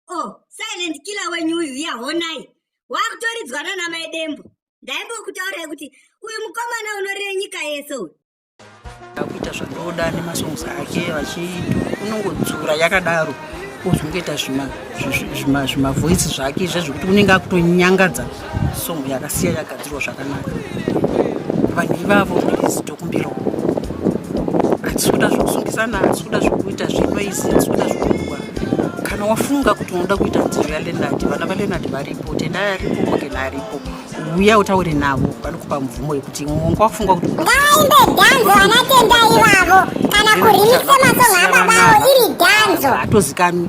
oh silent killer wenyu uyu iya honai wakutoridzwana namai dembo ndaimbokutaurai kuti uyu mukomana unorire nyika yese uyu akuita zvanoda nemasongs ake vachiindo unongodzura yakadaro ozongoita zvimavoice zvake izvezvo kuti unenge akutonyangadza song yakasiya yagadzirwa zvakanaka vanhu ivavo please tokumbirawo hatisi kuda zvekusungizana hatisi kuda zvekuita zvenoizi hatisi kuda zvekuwa kana wafunga kuti unoda kuita nziro yalenadi vana valenadi varipo tendai aripo mogena aripo uya utaure navo vanokupa mvumo yekuti mwonga wafunga kuti ngaimbe dhanzo vana tendai ivavo kana kurimise masongo ababavo iri dhanzo hatozikanwi